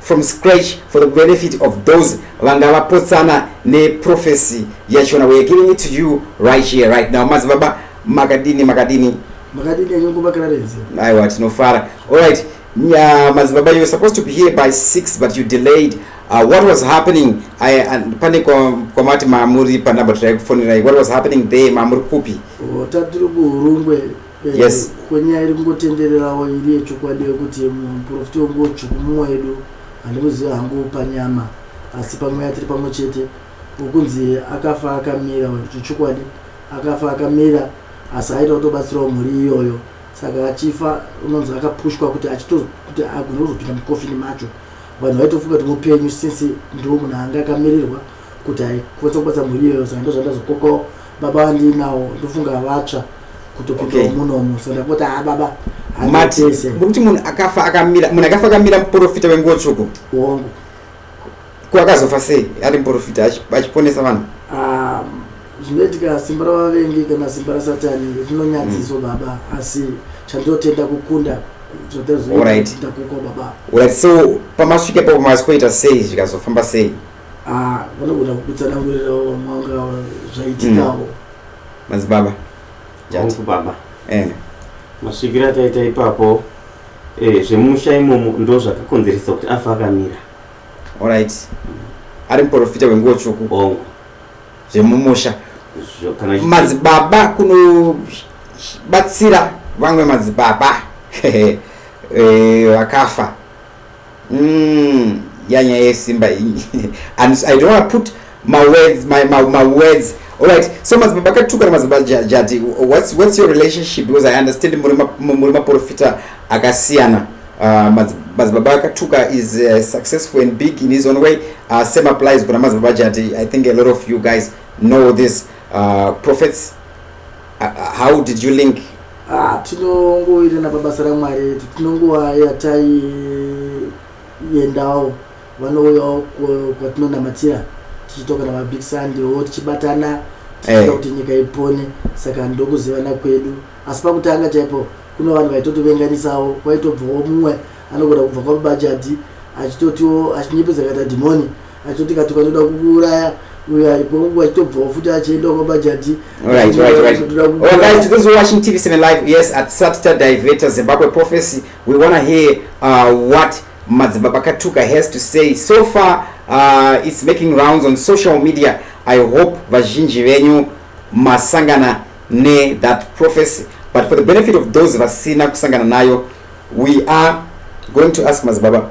from scratch for the benefit of those vanga vapotsana neprofesi yachona weare giving it to you right here right now madzibaba makadini makadini makadini anyangomakararenzi aiwa tinofara allright yeah, madzibaba you're supposed to be here by six but you delayed uh, what was happening pane kwamati mamuri panumber tiraikufonerai what was happening there mamuri kupi oh, tatiri kuhurungwe Eh, yes kwenyaya iri kungotendererawo iri yechokwadi yekuti muprofita wangu dzvuku mumwe wedu handimuzivi hangu panyama asi pamweya tiri pamwe chete wokunzi akafa akamira zvechokwadi akafa akamira asi aita kutobatsirawo mhuri iyoyo saka achifa unonzi akapushwa kuti achitokuti agone kuzopinda mukofini macho vanhu vaitofunga kuti mupenyu since ndiwo munhu anga akamirirwa kuti hai kwese kubasa mhuri iyoyo saka ndozvandazokokawo baba vandinawo ndofunga vatsva kutopindawo Okay. munomu so ndapota ha baba mati handitese kuti munhu akafa akamira munhu akafa akamira muporofita wenguwo tsvuku wangu ko akazofa sei ari muporofita achi- achiponesa vanhu Um, zvinoitika simba ravavengi kana simba rasatani rinonyadziswa Mm. baba asi chandinotenda kukunda Alright. zvatazoita kuko baba right so pamasvika ipapo mazikoita sei zvikazofamba sei Ah, vanogona kukutsanangurirawo vamwanga zvaitikawo. Mm. Mazibaba. Jangu baba. Eh. Masvikiro ataita ipapo eh zvemusha imomo ndo zvakakonzeresa kuti afa akamira. All right. Ari muprofita wenguwo tsvuku. Bongo. Zvemumusha. Kana madzibaba kuno batsira vamwe madzibaba. Eh, vakafa. mm, yanya yesimba and i don't want to put my words my, my, my words all right so madzibaba akatukana madzibaba jadi what's, what's your relationship because i understand muri maprofita akasiyana uh, madzibaba akatuka is uh, successful and big in his own way uh, same applies kuna madzibaba jadi i think a lot of you guys know this uh, prophets uh, uh how did you link Ah, tinongowirirana pabasa ramwari edu tinonguva yataiendawo vanouyawo kwatinonamatira tichitoka namabig sunday wo tichibatana tichita eh. kuti nyika ipone saka ndokuzivana kwedu asi pakutanga chaipo kuno vanhu vaitotovenganisawo kwaitobvawo mumwe anogona kubva kwamubajadhi achitotiwo achinyepedza kaita dhimoni achoti kati vanoda kukuuraya uyo aripo wachitobvawo futi achienda kwamajadhi right right right all right to those watching tv cine live yes at satita divertor zimbabwe prophecy we want to hear uh, what madzibaba katuka has to say so far uh, it's making rounds on social media i hope vazhinji venyu masangana ne that prophecy but for the benefit of those vasina kusangana nayo we are going to ask madzibaba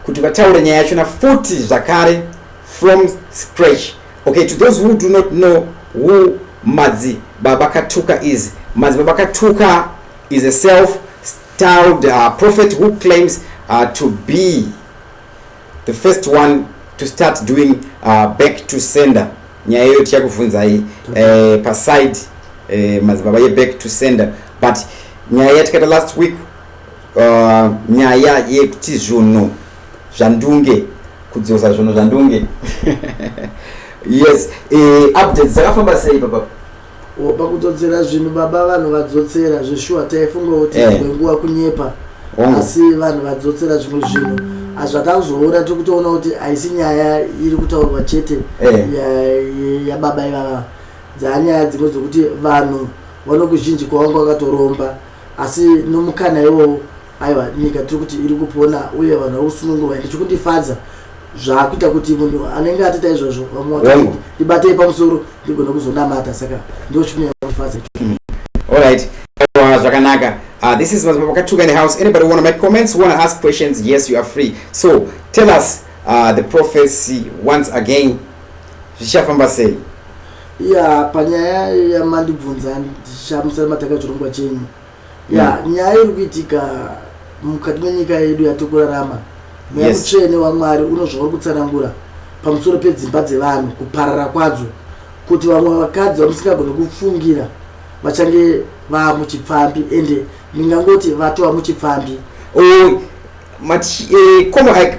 kuti vataure nyaya yachona futi zvakare from scratch okay to those who do not know who madzi baba katuka is madzi baba katuka is a self styled uh, prophet who claims uh, to be the first one to start doing uh, back to sender nyaya iyoyo tichakuvhunzai eh, paside eh, madzibaba yeback to sender but nyaya yatikaita last week uh, nyaya yekuti zvunhu zvandunge kudzosa zvunhu zvandunge yes e, updates dzakafamba sei papa pakudzodzera zvinhu baba vanhu vadzotsera zveshuwa taifunga kuti eh. imwe nguva kunyepa oh. asi vanhu vadzotsera zvimwe zvinhu hazvakazoora tiri kutoona kuti haisi nyaya iri kutaurwa chete eh. yababa ivava dzanyaya dzimwe dzokuti vanhu vanokuzhinji kwavanga vakatoromba asi nomukana iwowo aiwa nyika tiri kuti iri kupona uye vanhu vari kusunungurwa ende chikundifadza zvakuita kuti munhu anenge atoita izvozvo vamwe ndibatei pamusoro ndigona kuzonamata saka ndo chikunyanya kundifadza hmm. allright zvakanaka Uh, this is Mapakatuka in the house. Anybody want to make comments, want to ask questions? Yes, you are free. So tell us uh, the prophecy once again. Zvishafamba sei? ya panyaya yamandibvunza ndichamusana mataka chirongwa chenyu ya mm. nyaya iri kuitika mukati menyika yedu yatiri kurarama mweya yes. mutsvene wamwari unozvauri kutsanangura pamusoro pedzimba dzevanhu kuparara kwadzo kuti vamwe vakadzi vamusingagoni kufungira vachange vaa muchipfambi ende ndingangoti vatova muchipfambi oh, mati eh,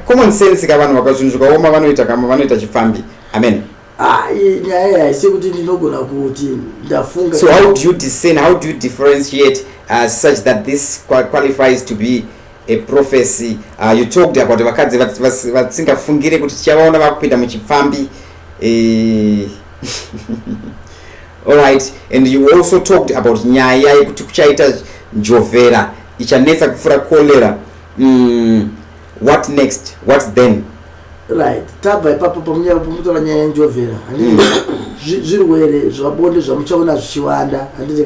common sense ka vanhu vaka zvinhu zvikaoma vanoita kama vanoita chipfambi amen Ayi nyaya haisi kuti ndinogona kuti ndafunga. So how do you discern, how do you differentiate uh, such that this qualifies to be a prophecy? Uh, you talked about vakadzi vasingafungire kuti tichavaona vakupinda muchipfambi. Eh, all right and you also talked about nyaya yekuti kuchaita njovhera ichanetsa kupfura cholera mm, what next what's then right tabva ipapo pamunyaya pamutora nyaya yenjovhera hmm. zvirwere zvabonde zvamuchaona zvichiwanda handiti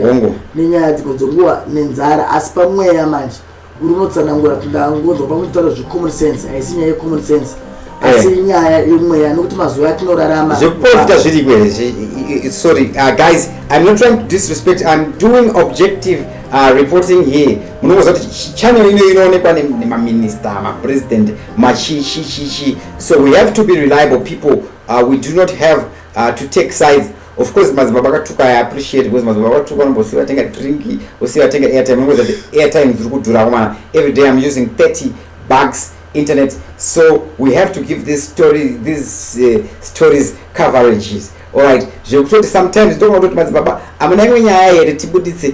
nenyaya dzimwe dzenguva nenzara asi pamweya manje uri unotsanangura kuti ndangonzwa pamutotaura zvecommon sense haisi nyaya yecommon sense eh. asi nyaya yemweya nokuti mazuva atinorarama zvekuprofita zviriko here sorry uh, guys i'm not trying to disrespect i'm doing objective uh, reporting here munongoziva kuti channel ino inoonekwa nemaminista mapresident machichichichi so we have to be reliable people uh, we do not have uh, to take sides of course madzibaba akatuka i appreciate because madzibaba akatuka anombosiya vatenga drink osiya vatenga airtime nongoza kuti airtime dziri kudhura komana every day i'm using 30 bugs internet so we have to give this story these uh, stories coverages allright zvekutoti sometimes ndokona kutoti madzibaba amuna imwe nyaya here tibuditse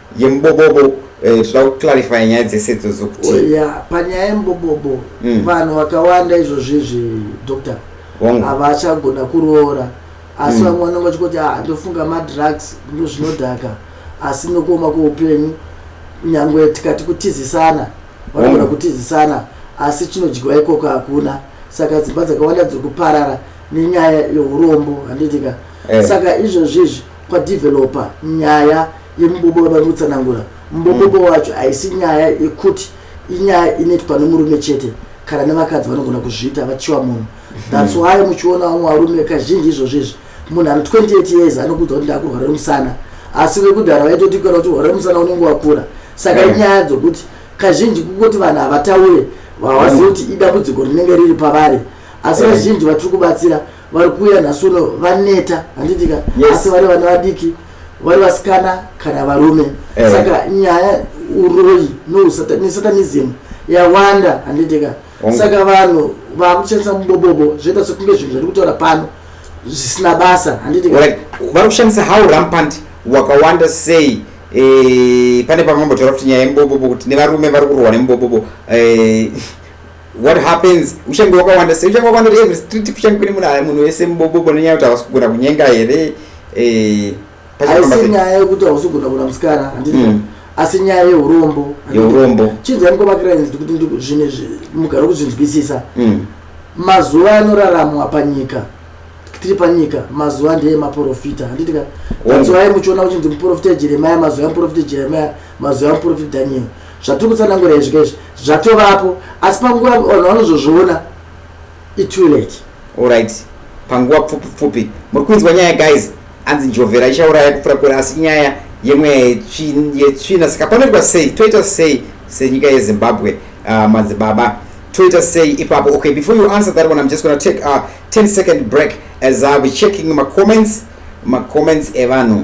yemubobobo eh, zvoda kuclarifya nyaya dzese idzodzo kuti Oh, yeah, panyaya yembobobo Mm. vanhu vakawanda izvozvizvi doctor Hongu. havachagona kuroora asi Mm. vamwe vanenge vachikoti ah ndofunga madrugs ndo zvinodhaka asi nokuoma kweupenyu nyangwe tikati kutizisana vanogona Mm. kutizisana asi chinodyiwa ikoko hakuna saka dzimba dzakawanda dziri kuparara nenyaya yeurombo handitika Eh. saka izvozvizvi kwadeveloper nyaya yemubobo vava kutsanangura mubobobo mm. wacho haisi nyaya yekuti inyaya inoitwa nemurume chete kana nevakadzi vanogona kuzviita vachiwa munhu mm-hmm. thats why muchiona vamwe varume kazhinji izvozvo izvi munhu ane 28 years anokuudza kuti ndakurwara remusana asi vekudhara vaitotikana kuti rwara remusana unenge wakura saka mm. inyaya dzokuti kazhinji kungoti vanhu havataure vawazivi kuti idambudziko rinenge riri pavari asi vazhinji vatiri kubatsira vari kuuya nhasi uno vaneta handitika asi vari vana vadiki vari vasikana kana varume eh. saka nyaya uroyi nosatanism yawanda handitika saka vanhu vakushandisa mubobobo zvoita sekunge zvinhu zviri kutaura pano zvisina basa handitika vari kushandisa how rampant wakawanda sei eh, pane pamwe mambotaura kuti nyaya yemubobobo kuti nevarume vari kurohwa nemubobobo eh, what happens uchange wakawanda sei uchange wakawanda every street kuchange kune munhu munhu wese mubobobo nenyaya yekuti hausi kugona kunyenga here eh, asi nyaya yekuti hausi kugona kuna musikana handii mm. asi nyaya yeurombo yeurombo chinzai mukomakira inzi kuti zvinhu mugara kuzvinzwisisa mm. mazuva anoraramwa panyika tiri panyika mazuva ndeye maporofita handitika mazuva aye muchiona kuchinzi muporofita jeremaya mazuva emuporofita jeremaya mazwi amuprofit daniel zvatiri kutsanangura izvi kezvi zvatovapo asi panguva vanhu vanozozviona itoo late allright panguva pfupi pfupi muri kunzwa nyaya guys anzi njovhera ichauraya kupfura kure asi nyaya yemweya yetsvina saka panoitwa sei toita sei senyika yezimbabwe uh, madzibaba toita sei ipapo okay before you answer that one i'm just gonna take a uh, 10 second break as uh, we checking macomments macomments evanhu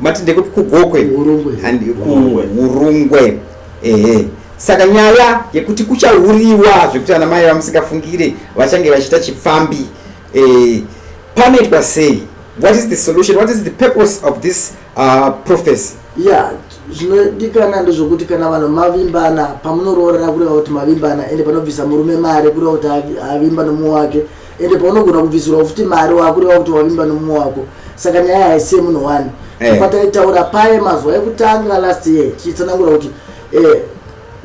mati ndekuti kugokwe and kuurungwe ehe saka nyaya yekuti kuchauriwa zvekuti ana mai vamusingafungire vachange vachiita chipfambi eh, panoitwa sei what is the solution what is the purpose of this uh, prophecy yeah zvinodikana ndezvokuti kana vanhu mavimbana pamunoroorana kureva kuti mavimbana ende panobvisa murume mari kureva kuti avimba nomumwe wake ende paunogona kubvisirwa futi mari wakureva kuti wavimba nomumwe wako saka nyaya haisi yemunhu wani eh. pataitaura paye mazuva ekutanga last year tichitsanangura kuti eh,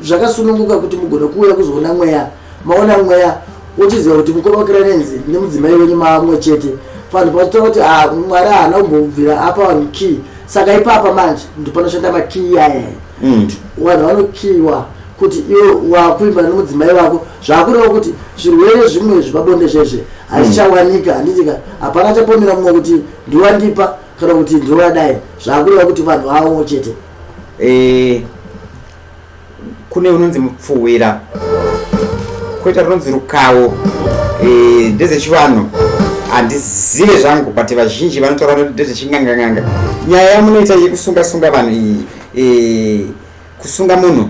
zvakasununguka kuti mugone kuuya kuzoona mweya maona mweya wochiziva kuti mukoma wakiranenzi nemudzimai wenyu mamwe chete vanhu pavachita kuti ah, mwari haana kumbobvira apa vanhu key saka ipapa manje ndopanoshanda makey aya mm. vanhu vanokiyiwa kuti iwe wakuimba nemudzimai wako zvakureva kuti zvirwere zvimwe zvepabonde zvezve hazvichawanika hmm. handitika hapana chapomera mumwe kuti ndiwandipa kana kuti ndiwadai zvakureva kuti vanhu vavo chete eh, kune unonzi mupfuwira koita runonzi rukawo eh, ndezvechivanhu handizive zvangu but vazhinji vanotaura kuti ndezvechinganganganga nyaya yamunoita yekusunga sunga vanhu iyi eh, kusunga munhu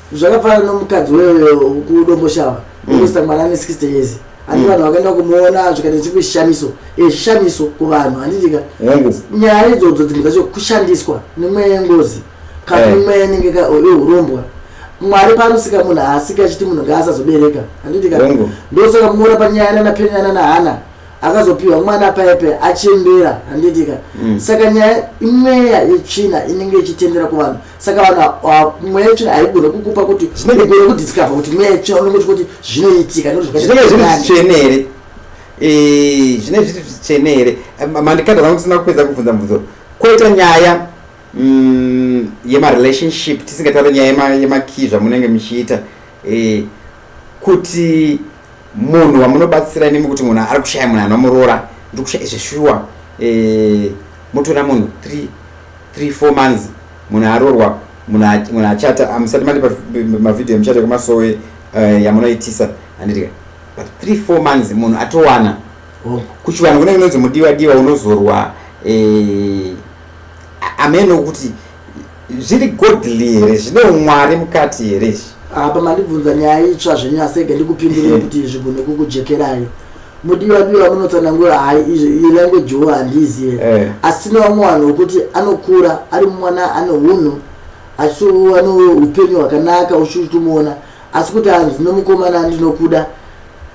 zvakafanana nomukadzi wekudomboshava mm. unosta mwana ane 60 years handi mm. vanhu vakaenda kumuona zvikaita chikushamiso echishamiso eh, kuvanhu handitika nyaya idzodzo dzimwe dzacho kushandiswa nemweya yengozi kana eh. imweya inenge yeurombwa mwari panosika munhu haasika achiti munhu ngaasazobereka handitika ndosaka kumuona panyaya nanapenyana nahana akazopiwa mwana paipe achembera handitika mm. saka nyaya imweya yetsvina inenge ichitendera kuvanhu saka vaka mweya yacho haigone kukupa kuti zvinenge gone kudiscover kuti mweya yacho unongoti kuti zvinoitika zvinenge zviri zvitsvene here eh, zvinenge zviri zvitsvene here mandikanda zangu tisina kupedza kubvunza mubvunzo koita nyaya mm, yemarelationship tisingataure nyaya yemakii zvamunenge muchiita eh, kuti munhu wamunobatsira nemi kuti munhu ari kushaya munhu anomuroora ndiri kushaya izvi shuwa eh, motora munhu three three four months munhu aroorwa munhu achata hamusati mati mavhidhiyo emuchato yekumasowe eh, yamunoitisa handitika but three four months munhu atowana oh. kuchivanhu kunenge unonzi mudiwa diwa unozorwa eh, ameno kuti zviri godly here zvine umwari mukati here izvi apa mandibvunza nyaya itsva zvenyasege ndikupindurei eh. kuti zvigone kukujekerai mudiwa diwa munotsanangura hai izvi language wo handizive eh. asi tine vamwe vanhu vokuti anokura ari mwana ane unhu achitova noupenyu hwakanaka uchitomuona asi kuti hanzi nomukomana ndinokuda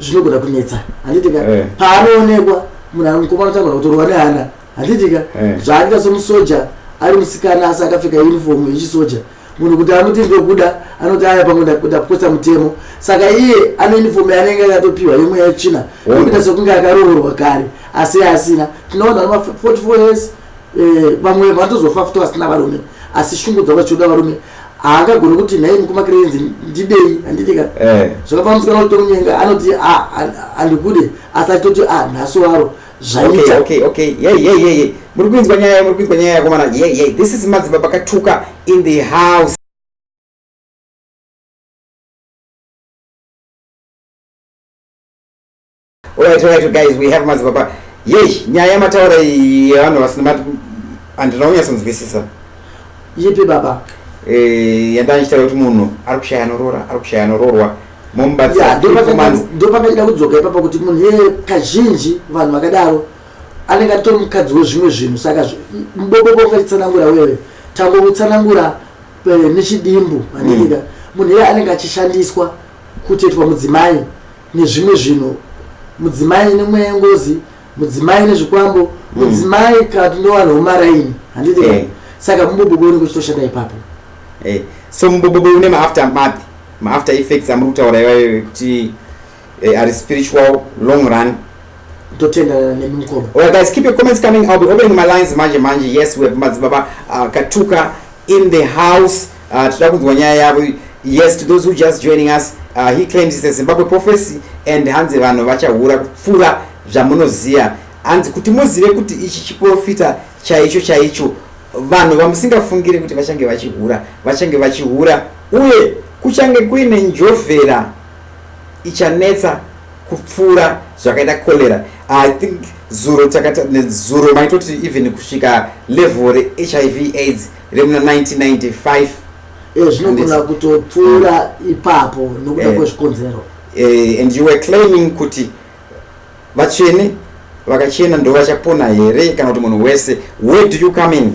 zvinogona kunetsa handiti ka eh. paanoonekwa munhu mukomana tagona kutorwa nehana handitika eh. zvaaita somusoja ari musikana asi akapfeka uniform yechisoja munhu kuti amuti ndokuda anoti aya pamwe ndapotsa mutemo saka iye ane uniform yaanenge akatopiwa yemwe yachina okuita sekunge akaroorwa kare asi asina tinoona ma 44 years eh, vamwe vatozofa futi vasina varume asi shungu dzavo chiuda varume haangagoni kuti nhai mukumakirenzi ndidei handitika eh. zvakafana musikana kuti tomunyenga anoti ah, andikude asi achitoti ah, nhasi waro zvaita okay okay yeah yeah yeah yeah muri kuinzwa nyaya muri kuinzwa nyaya yakomana yeah yeah this is madziba pakatuka in the house alright alright guys we have madziba pa yei nyaya mataura yevanhu vasina handina kunyatsonzwisisa yipi baba eh yandanichitaura kuti munhu ari kushaya anoroora ari kushaya anoroorwa ndopandachida kudzoka ipapa kuti munhu ee kazhinji vanhu vakadaro anenge atori mukadzi wezvimwe zvinhu saka mubobobo ungachitsanangura wewe tangomutsanangura eh, nechidimbu handiika mm. munhu iye anenge achishandiswa kutetwa mudzimai nezvimwe zvinhu mudzimai nemweya yengozi mudzimai nezvikwambo mm. mudzimai kana tinowanhu womaraini handiika eh. saka mubobobo unenge uchitoshanda ipapo eh. so mubobobo une maafter mapi maafter effects amuri kutaura ivayo ekuti eh, ari spiritual long run totenda nemi mukoma well guys keep your comments coming i'll be opening my lines manje manje yes we have madzibaba uh, katuka in the house uh, tida kunzwa nyaya yavo yes to those who just joining us uh, he claims it's a zimbabwe prophecy and hanzi vanhu vachahura kupfuura zvamunoziva hanzi kuti muzive kuti ichi chiprofita chaicho chaicho vanhu vamusingafungire kuti vachange vachihura vachange vachihura uye kuchange kuine njovhera ichanetsa kupfuura zvakaita cholera i think zuro takatazuro maitoti even kusvika level rehiv aids remuna 1995 eh, zvinogona kutopfuura ipapo nokuda eh, kwezvikonzero eh, and you were claiming kuti Vatsvene vakachena ndovachapona here kana kuti munhu wese where do you come in?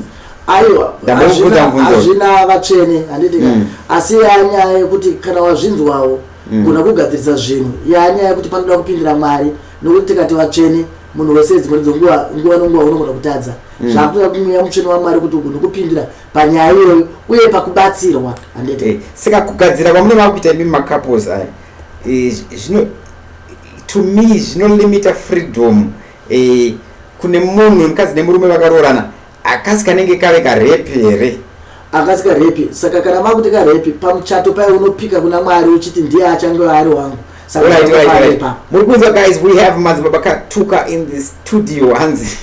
Aiwa, hazvina vatsvene handiti mm. asi yanyaya yekuti kana wazvinzwawo mm. gona kugadzirisa zvinhu yanyaya yekuti panoda kupindira Mwari nokuti tikati vatsvene munhu wese dzimwe ndidzo nguva nguva nenguva unogona kutadza mm. zvakutoda kumweya mutsvene wamwari kuti ugone kupindira panyaya iyoyo uye pakubatsirwa handete eh, saka kugadzira kwamunova kuita imi macouples aya eh, zvino to me zvinolimita freedom eh, kune munhu wemukadzi nemurume vakaroorana akasi kanenge kave karepi here akasi karepi saka kana makuti karepi pamuchato paye unopika kuna mwari uchiti ndiye achange ari wangu muri kunzwa guys we have madzibaba katuka in the studio hanzi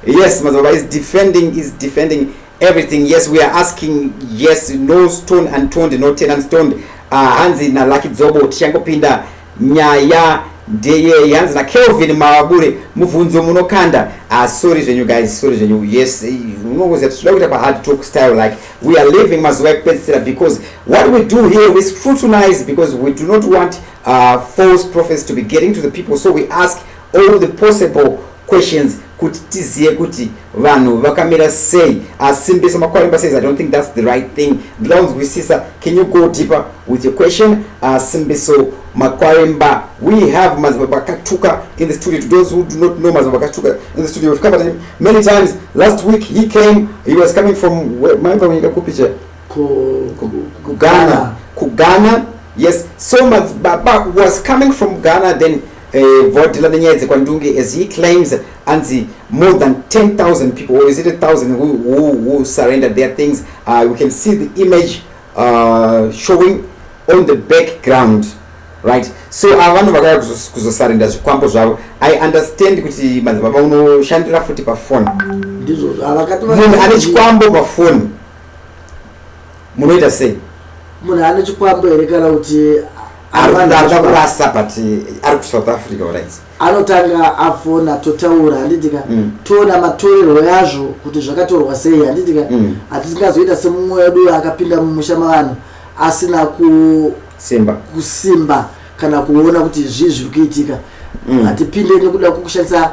yes madzibaba is defending is defending everything yes we are asking yes no stone untoned no ten unstoned uh, ah, hanzi nalucky dzobo tichangopinda nyaya ndeyeye hanzi nakelvin mawabure mubvunzo munokanda uh, sorry zvenyu guys sorry zvenyu yes eh, unongoziva titoda kuita pahard talk style like we are living mazuva ekupedzisira because what we do here we scrutinize because we do not want uh, false prophets to be getting to the people so we ask all the possible questions kuti tizive kuti vanhu vakamira sei asimbisa makwarimba says i don't think that's the right thing ndoda kunzwisisa can you go deeper with your question asimbiso makwarimba we have madzibaba akatuka in the studio to those who do not know madzibaba akatuka in the studio we've covered him many times last week he came he was coming from maimba kunyika kupi che kughana kughana yes so madzibaba was coming from ghana then Eh, vhodhila nenyaya dzekwandunge as he claims anzi more than 10000 people or is it 1000 who, who, who surrendered their things uh, we can see the image uh, showing on the background right so ava ah, vanhu vakaya kuzosarenda zvikwambo zvavo i understand kuti madzibaba unoshandira futi pafoni munhu ane chikwambo pafoni munoita sei munhu ane chikwambo here kana kuti arikuda kurasa but ari kusouth africa orit anotanga afona totaura handitika mm. toona matorerwo yazvo kuti zvakatorwa sei handitika mm. hatisingazoita semumwe wedu akapinda mumusha mavanhu asina kusimba kusimba kana kuona kuti zvii zviri kuitika mm. hatipinde nekuda kukushandisa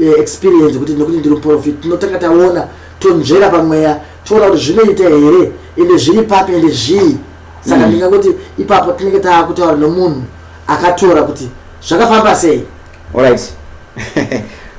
eh, experience kuti nekuti ndiri muprofit tinotanga taona tonzvera pamweya toona kuti zvinoita here ende zviri papi ende zvii saka mm. ndingangoti ipapo tinenge taakutaura nomunhu akatora kuti zvakafamba sei allright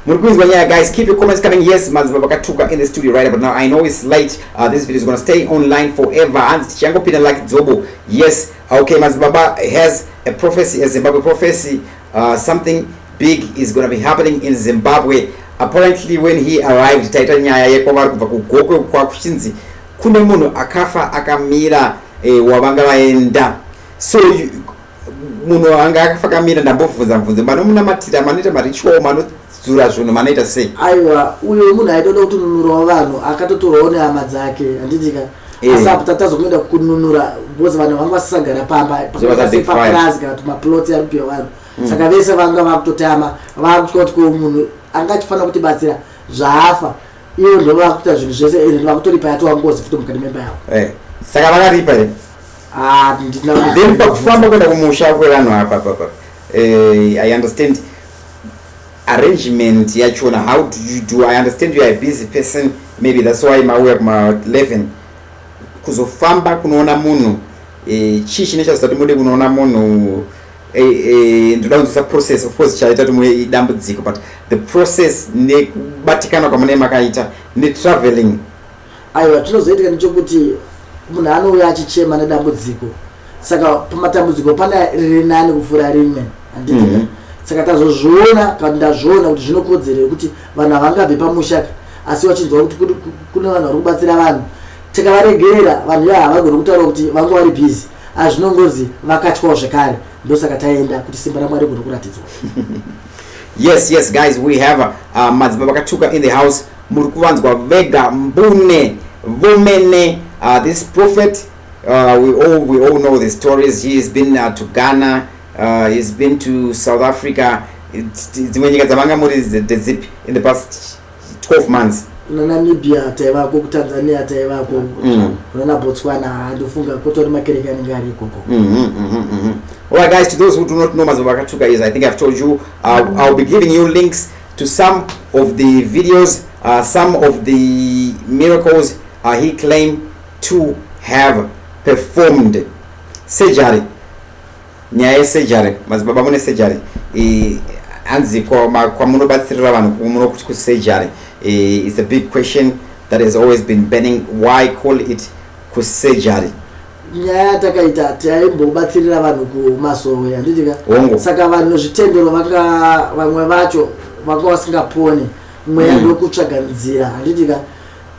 muri kuinzwa nyaya guys keep your comments coming yes maziva vakatuka in the studio right but now i know it's late uh, this video is gonna stay online forever hanzi tichangopinda like dzobo yes okay mazibaba has a prophecy a zimbabwe prophecy Uh, something big is gonna be happening in Zimbabwe. Apparently when he arrived taita nyaya yekwavari kubva kugokwe kwakuchinzi kune munhu akafa akamira eh, wavanga vaenda so munhu anga akafa akamira ndambobvunza mvunzo manomunamatira manoita marichuo mano kudzura zvinhu manoita sei aiwa uyo munhu aitoda kutununurawo vanhu akatotorwawo nehama dzake handidika Eh. asi apo tatazomuenda kununura because vanhu vanga vasisagara pamba papurazi kana kuti maplots ari kupiwa vanhu mm. saka vese vanga vakutotama vakutya kuti ko munhu anga achifanira kutibatsira zvaafa ivo ndo vakuita zvinhu zvese ende eh, vakutoripa yatova ngozi futi mukati memba yavo eh. saka vakaripa here ah, then pakufamba kuenda kumusha kwevanhu apa papa i understand arrangement yachona how do you do i understand you are a busy person maybe that's why mauya kuma 11 kuzofamba kunoona munhu e, chii chine chazita kuti mude kunoona munhu e, e, ndoda kunzwisa process of course chaita kuti muve idambudziko but the process nekubatikana kwamune makaita netraveling Aiwa, chinozoitika ndechokuti munhu anouya achichema nedambudziko, saka pamatambudziko pane riri nani kupfuura rimwe, handiti? Mm -hmm. Saka tazozviona kana kuti ndazviona kuti zvinokodzera yekuti vanhu havangabve pamusha ka asi vachinzwa kuti kune vanhu vari kubatsira vanhu tikavaregerera vanhu ivaa havagoni kutaura kuti vange vari bhizi azvinongozi vakatyawo zvekare ndosaka taenda kuti simba ramwari goni kuratidzwa yes yes guys we have uh, madzimba vakatuka in the house muri kuvanzwa vega mbune vomene uh, this prophet uh, we, all, we all know the stories he has been uh, to ghana uh, he has been to south africa dzimwe nyika dzamanga muri ndedzipi in the past 12 months kuna namibia taivako kutanzania taivako mm. kuna nabotswana handifunga kutori makereke anenge ari ikoko mm-hmm, mm-hmm, mm-hmm. All right, guys, to those who do not know Mazobakatuka is, I think I've told you, uh, I'll be giving you links to some of the videos uh, some of the miracles uh, he claimed to have performed surgery nyaya yesurgery madzibaba mune surgery hanzi kwamunobatsirira vanhu kumunokuti kusurgery is a big question that has always been burning why call it kusurgery nyaya yatakaita taimbobatsirira vanhu kumasowe handiti ka Hongu. saka vanhu zvitendero vanga vamwe vacho vanga vasingaponi mweya Mm. ndokutsvaga nzira handiti ka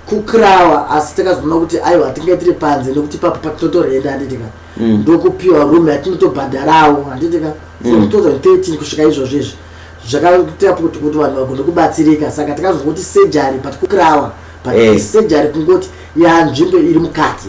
kukrawa asi takazoona kuti aiwa tinge tiri panze nekuti papo patinotorenda handiti ka Mm. ndokupiwa room yatinotobhadharawo handiti ka Mm. from 2013 kusvika izvozvo izvi zvakaita kuti kuti vanhu vagone kubatsirika saka takazongoti surgery but kukrawa but Eh. surgery kungoti yanzvimbo iri mukati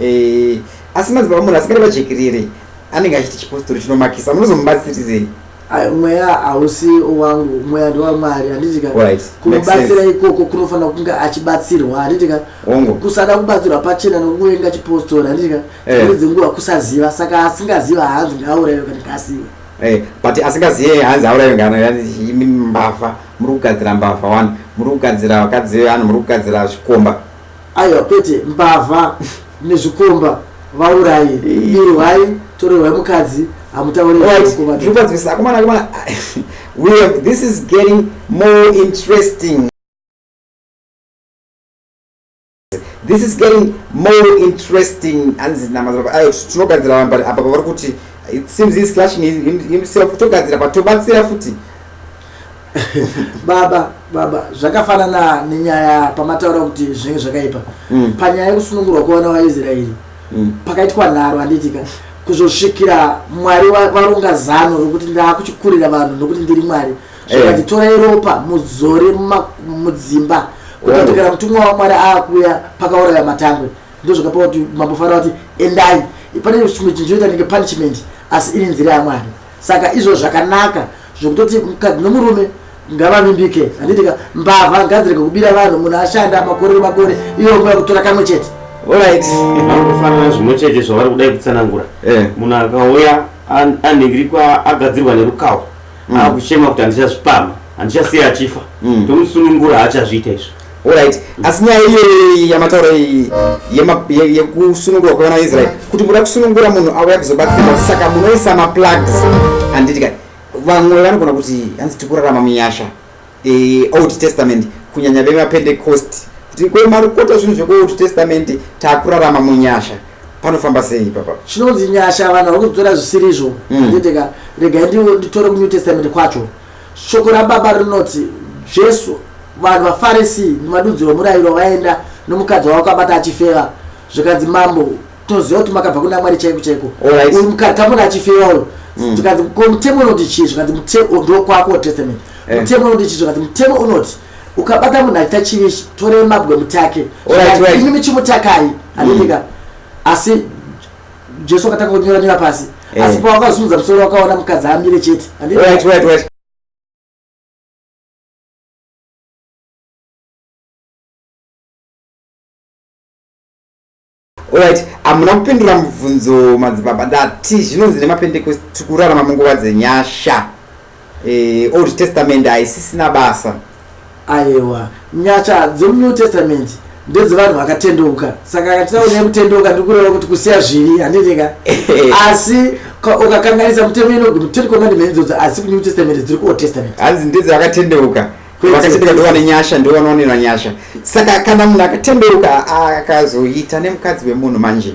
Eh, asi madzibaba munhu asingade vajekerere anenge achiti chipostori chinomakisa munozomubatsirirei Ai, mweya hausi wangu mweya ndewamwari handiti ka Right. Makes kumubatsira sense. ikoko kunofanira kunge achibatsirwa handiti ka Hongu. kusada kubatsirwa pachena nokuenga chipostori handiti ka Eh. dzimwe dzenguva kusaziva saka asingaziva haanzi ngaaurayiwe kana kasiwe Eh, but asingazive hanzi aurayo ngano yani imi mbavha muri kugadzira mbavha wani muri kugadzira vakadzi vevanhu muri kugadzira zvikomba aiwa kwete mbavha nezvikomba vaurayi irwai torerwai mukadzi hamutauriakomana this is getting more interesting this is getting more interesting hanzi tinogadzira vanhu but apa pavari kuti it seems he's clashing himself togadzira patobatsira futi baba baba zvakafanana nenyaya pamataura kuti zvinenge zvakaipa mm. panyaya yekusunungurwa kwevana vaisraeri mm. pakaitwa nharo handiitika kuzosvikira mwari varonga zano rokuti ndaakuchikurira vanhu nokuti ndiri mwari zvakati eh. torai ropa muzore mudzimba kutotokera mutumwa wamwari aakuya pakauraya matangwe ndozvakapa kuti mambo fara kuti endai pane chimwe chinhu chinoita nenge punishment asi iri nzira yamwari saka izvo zvakanaka zvekutoti mukadzi nomurume ngavavimbike handiti ka mbavha ngadzirege kubira vanhu munhu ashanda makore nemakore iyo nguva kutora kamwe chete orit vanofanana zvimwe chete zvavari kudai kutsanangura eh. munhu akauya anhingirikwa agadzirwa nerukawo mm. akuchema kuti handichazvipama handichasiya achifa mm. tomusunungura haachazviita izvo Alright, asi nyaya iyoyo yamataura iyi yekusunungurwa kwevana veIsrael kuti muda kusunungura munhu auya kuzobatsirwa saka munoisa maplugs handiti kani vamwe vanogona kuti hanzi tiri kurarama munyasha eh, old testament kunyanya vemapentecost kuti kwemarukota zvinhu zvekuold testament takurarama munyasha panofamba sei ipapa chinonzi nyasha vanhu vari kuzitora zvisirizvo handiti hmm. ka regai nditore kunew testament kwacho Shoko raBaba rinoti, Jesu, vanhu vaFarisi nevadudziri vomurayiro vaenda nomukadzi wavo kwabata achifeva, zvikanzi, Mambo, toziva kuti makabva kuna Mwari chaiko chaiko. Alright. Uyu mukadzi tamona achifeva uyu. Zvikanzi, ko mutemo unoti chii? Zvikanzi, mutemo ndokwako testament. Eh. Mutemo unoti chii? Zvikanzi, mutemo unoti ukabata munhu achiita chivi ichi, torei mabwe mutake. Alright, Zvikanzi, right. Imi michimutakai, handitika. Asi Jesu akatanga kunyora nyora pasi. Eh. Asi pawakazunza musoro wakaona mukadzi amire chete. Wait, wait, wait. Alright, amuna kupindura mubvunzo madzibaba ndati zvinonzi nemapendekosti tikurarama munguva dzenyasha. Eh, old testament haisisina basa ayewa nyasha dzemunew testament ndedzevanhu vakatendeuka saka akatitaura nekutendeuka ndikureva kuti kusiya zvivi handinika asi ukakanganisa mutemo inogumi ten commandment idzodzo asi kunew testament dziri kuold testament hanzi ndedze vakatendeuka vakatendeuka ndovane nyasha ndovanoonera nyasha saka kana munhu akatendeuka akazoita nemukadzi wemunhu manje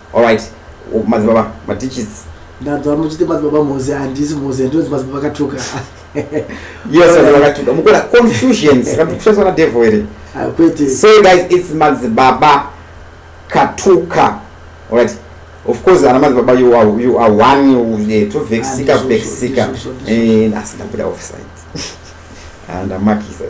Alright, u- madzibaba, matichisi. ndanzwa muchiti madzibaba mozi handisi mozi handinonzi madzibaba akatuka Yes, madzibaba akatuka. Mukona confusions, kana kuti kushandiswa na devil here? Ah, kwete So guys, it's madzibaba katuka. Alright. Of course, ana madzibaba you are you are one you eh, tovexika Handizvo, vexika. handizvo, handizvo. Eh, asi ndabuda offside. Ah, ndamakisa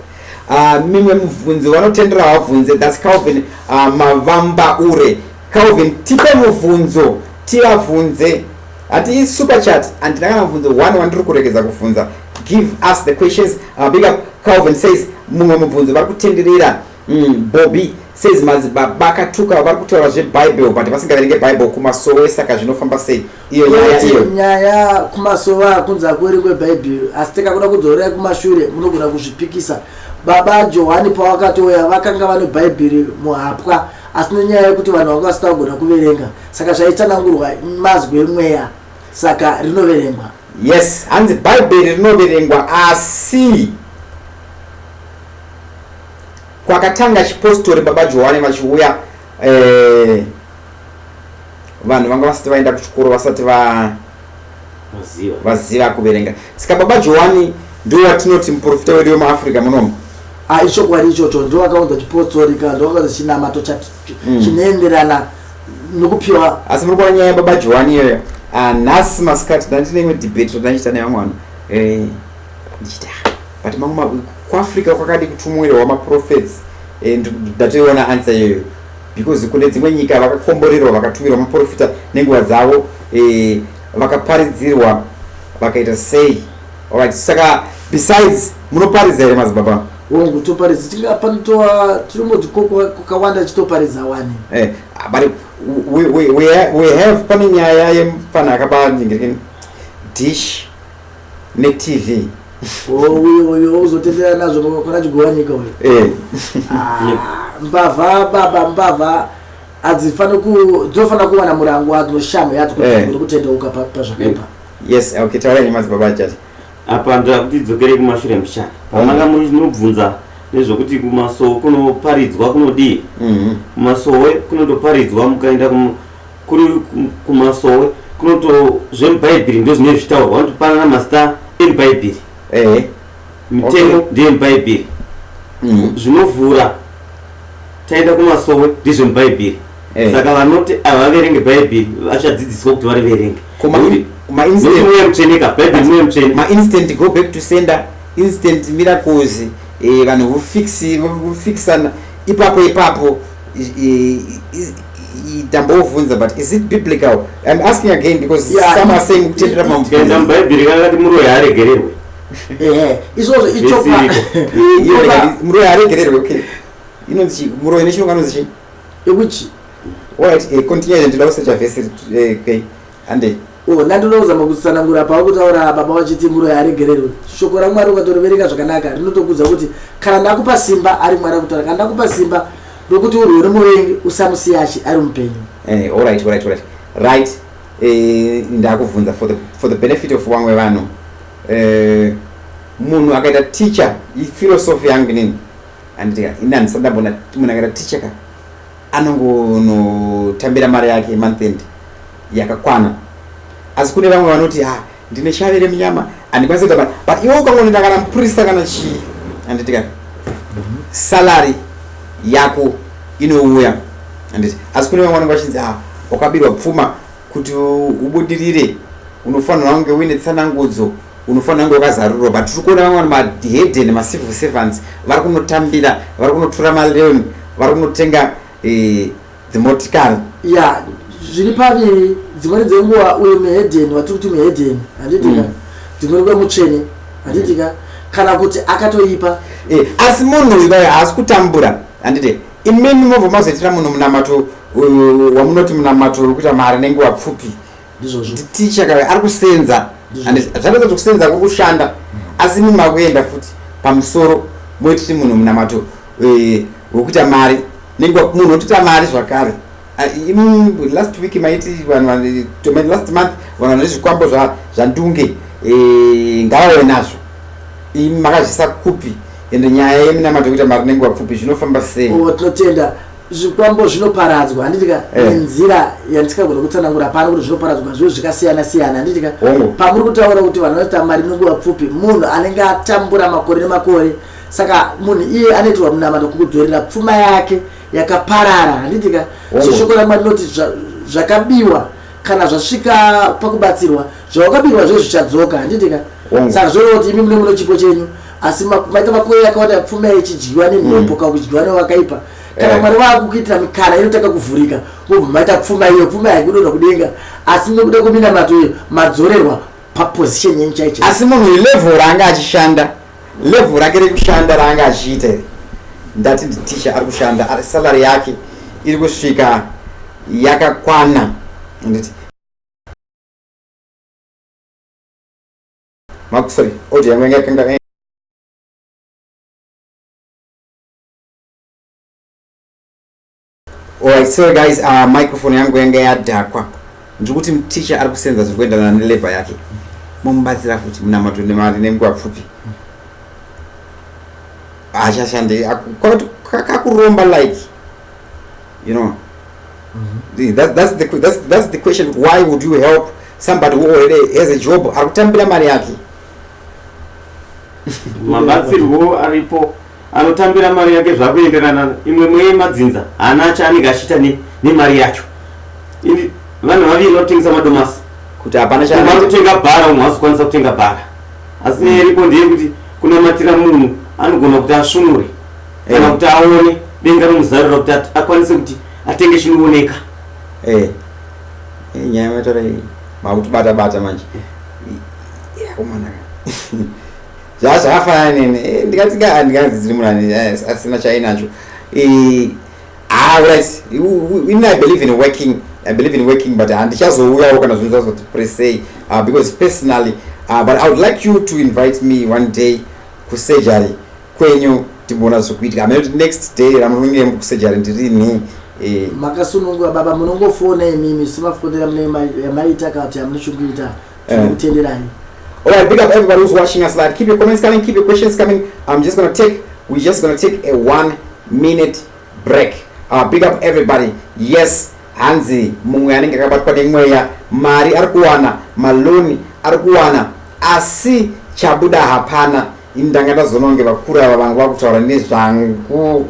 ah, mimwe mubvunzo vanotendera vabvunze thats calvin ah, mavamba ure calvin tipe mubvunzo tivabvunze hati isuper chat handina kana mubvunzo one wandiri kuregedza kubvunza give us the questions uh, big up calvin says mumwe mubvunzo vari kutenderera mm, bobby says madzibaba akatuka vari kutaura zvebible but vasingaverenge bible kumasowe saka zvinofamba sei iyo nyaya iyo nyaya kumasowa kunzi hakueri kwebhaibheri asi tikakuda kudzorera kumashure munogona kuzvipikisa baba johani pavakatouya vakanga vane bhaibheri muhapwa asi nenyaya yekuti vanhu vanga vasita kugona kuverenga saka zvaitsanangurwa mazwi emweya saka rinoverengwa yes hanzi bhaibheri rinoverengwa asi kwakatanga chipostori baba johani vachiuya eh, vanhu vanga vasati vaenda kuchikoro vasati va vaziva kuverenga saka baba johani ndo watinoti muprofita wedu wemuafrica munomu ah, ichokwadi ichocho ndo wakaunza chipostori ka ndo wakaunza chinamato mm. chinoenderana nokupiwa asi muri kuona nyaya baba johani iyoyo ah, nhasi masikati ndandine imwe debate randandichita nevamwe vanhu eh, ndichita but mamwe kuafrica kwakadi kutumwirwa maprofets eh, ndatoiona ansa iyoyo because kune dzimwe nyika vakakomborerwa vakatumirwa maprofita nenguva dzavo eh, vakaparidzirwa vakaita sei alright saka besides munoparidza here madzibaba hongu toparidza tiri apa nitova tirimboti kokawanda chitoparidza wani eh, but we, we, we, we have pane nyaya yemufana akaba nyingirikini dish ne TV. Oh, uyo uyo uzotenderera nazvo baba pana Chigowanyika uyo. Eh. Ah, mbavha baba mbavha adzifana ku dzofana kuwana murango wadzo noshamu yadzo kuti eh. kutendeuka pa pazvakaipa. Yes, okay, taura nyama dzibaba chati. Apa ndoda kuti dzokere kumashure mshana. Pamanga muri nobvunza nezvokuti kumasowe kunoparidzwa kunodii? Mhm. Kumasowe kunotoparidzwa mukaenda kuri kumasowe kunoto zvemubhaibhiri ndo zvine zvitaurwa vanotopanana mazita emubhaibhiri ehe mitemo Okay. ndeyemubhaibhiri Mm. zvinovhura taenda kumasowe ndezvemubhaibhiri Eh. saka vanoti havaverenge bhaibhiri vachadzidziswa kuti variverenge Koma in- Nekuti- ma nekuti instant- mweya mutsveneka bhaibhiri mweya mutsvene ma instant go back to sender instant miracles eh, vanhu vofix- vofixana ipapo ipapo ndambovunza but is it biblical im asking again because yeah, some are saying kutendera pamubvunza mubhaibheri kana kati muroyi haaregererwe eh, izvozvo ichomuroyi haaregererwe okay inonzi chii muroyi nechirungu anonzi chii yekuchi right eh, continue ndinoda kusecha vhesi eh, kei Handei. Oh, ndandinoda kuzama kutsanangura pauri kutaura baba vachiti muroyi aregererwe. Shoko raMwari ukatorovereka zvakanaka rinotokudza kuti kana ndakupa simba ari Mwari akutaura kana ndakupa simba rokuti urwe nomuvengi usamusiya achi ari mupenyu. Eh, all right, all right, all right. Right. Eh, ndakuvhunza for the for the benefit of vamwe vanhu. Eh, munhu akaita teacher, philosophy yangu nini? Handiti ka, ini handisati ndambona munhu akaita teacher ka. anongonotambira mari yake month end yakakwana asi kune vamwe vanoti ha ah, ndine shave remunyama handikwanisi kuita mari but iwe ukangonenda kana mupurisa kana chii handiti kana salary yako inouya handiti asi kune vamwe vanenge vachinzi ha ah, wakabirwa pfuma kuti ubudirire unofanirwa kunge uine tsanangudzo unofanira kunge wakazarurwa but tiri kuona vamwe maheden macivil servants vari kunotambira vari kunotora maleon vari kunotenga eh, dzimotikari ya zviri paviri dzimweni dzenguva uyo muheden vatiri kuti muheden handitika mm. dzimweni kuva mutsvene handitika mm. kana kuti akatoipa eh, asi munhu uyu vayo haasi kutambura handiti imimi mobva mazoitira munhu munamato wamunoti munamato wekuita mari nenguva pfupi ndizvozvo ticha kawe ari kusenza zvatadza kuti kusenza kuri kushanda mm. asi mimi makuenda futi pamusoro moititi munhu munamato eh, wekuita mari nenge munhu otoita mari zvakare ah, last week maiti vanhu last month vanhu vane zvikwambo zvandunge eh, ngavave nazvo makazvisa kupi ende nyaya yeminamato yekuita mari nenge wapfupi zvinofamba sei oh, tinotenda zvikwambo zvinoparadzwa handiti ka Eh. nenzira yandisikagona kutsanangura pano kuti zvinoparadzwa zviyo zvikasiyana siyana handiti ka Hongu. pamuri kutaura kuti vanhu vanoita mari nenguva pfupi munhu anenge atambura makore nemakore saka munhu iye anoitirwa munamato kukudzorera pfuma yake yakaparara handiti ka Hongu. so shoko ramwari rinoti zva- zvakabiwa kana zvasvika pakubatsirwa zvawakabirwa zve zvichadzoka handiti ka mm. saka zvoreva kuti imi mune muno chipo chenyu asi maita makuyo yakawanda pfuma ichidyiwa nemhepo mm. kana kuchidyiwa nevakaipa kana eh. mwari vakukuitira mikana inotanga kuvhurika vobva maita pfuma iyo pfuma yaikudonha kudenga asi nekuda kweminamato iyo madzorerwa paposition yenyu chaicho asi munhu ilevel raanga achishanda level rake rekushanda raanga achiita iri ndati nditicha ari kushanda salary yake iri kusvika yakakwana anditi makusori odi yangu yanga yakanga Alright, sorry guys, uh, microphone yangu yanga yadhakwa. Ndiri kuti teacher ari kusenza zviri kuenderana nelever yake. Momubatsira futi munamato nemari nenguva pfupi. Haachashande kakuromba like you know. Mm -hmm. that's, that's, the, that's, that's the question why would you help somebody who already has a job ari kutambira mari yake mabatsirwo aripo anotambira mari yake zvakuenderana imwe mweye madzinza haana acho anenge achiita nemari yacho ini vanhu vaviri vanotengesa madomasi kuti hapana chaari kutenga bhara umwe hazikwanisa kutenga bhara asi nyaya iripo ndeyekuti kunamatira munhu anogona kuti asvunure kana eh. kuti aone denga romuzarura kuti akwanise kuti atenge chinooneka eh. eh, nyaya mataura iyi makuti bata bata manje zvazvafanana nene eh, ndikati ka handikazi dziri murani eh, asina chainacho eh, ah, right in i believe in working i believe in working but handichazouyawo kana zvinhu zvazoti presey ah, because personally ah, but i would like you to invite me one day kusurgery kwenyu timboona zvekuitika amene kuti next day ramuronge mukusejari ndirini eh. makasunungura baba munongofona imimi semafonera yamaita kati amunochikuita tinokutenderai all right big up everybody who's watching us live keep your comments coming keep your questions coming i'm just gonna take we're just gonna take a one minute break uh, big up everybody yes hanzi mumwe anenge akabatwa nemweya mari ari kuwana maloni ari kuwana asi chabuda hapana ini ndanga ndazononge vakuru ava vangu vakutaura nezvangu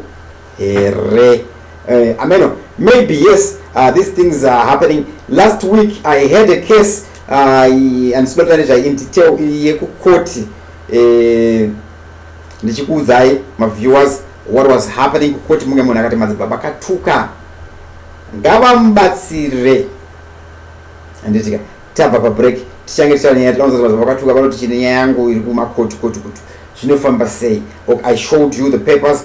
here uh, ameno maybe yes uh, these things are happening last week i had a case uh, andisibata nezvainditew yekukoti eh, ndichikuudzai maviewers what was happening kukoti munge munhu akati madzibaba katuka ngavamubatsire anditika tabva pabreak tichange tichava nyaya tinoza kuti vakatuka vanoti chine nyaya yangu iri kumakoti koti kuti zvinofamba sei ok i showed you the papers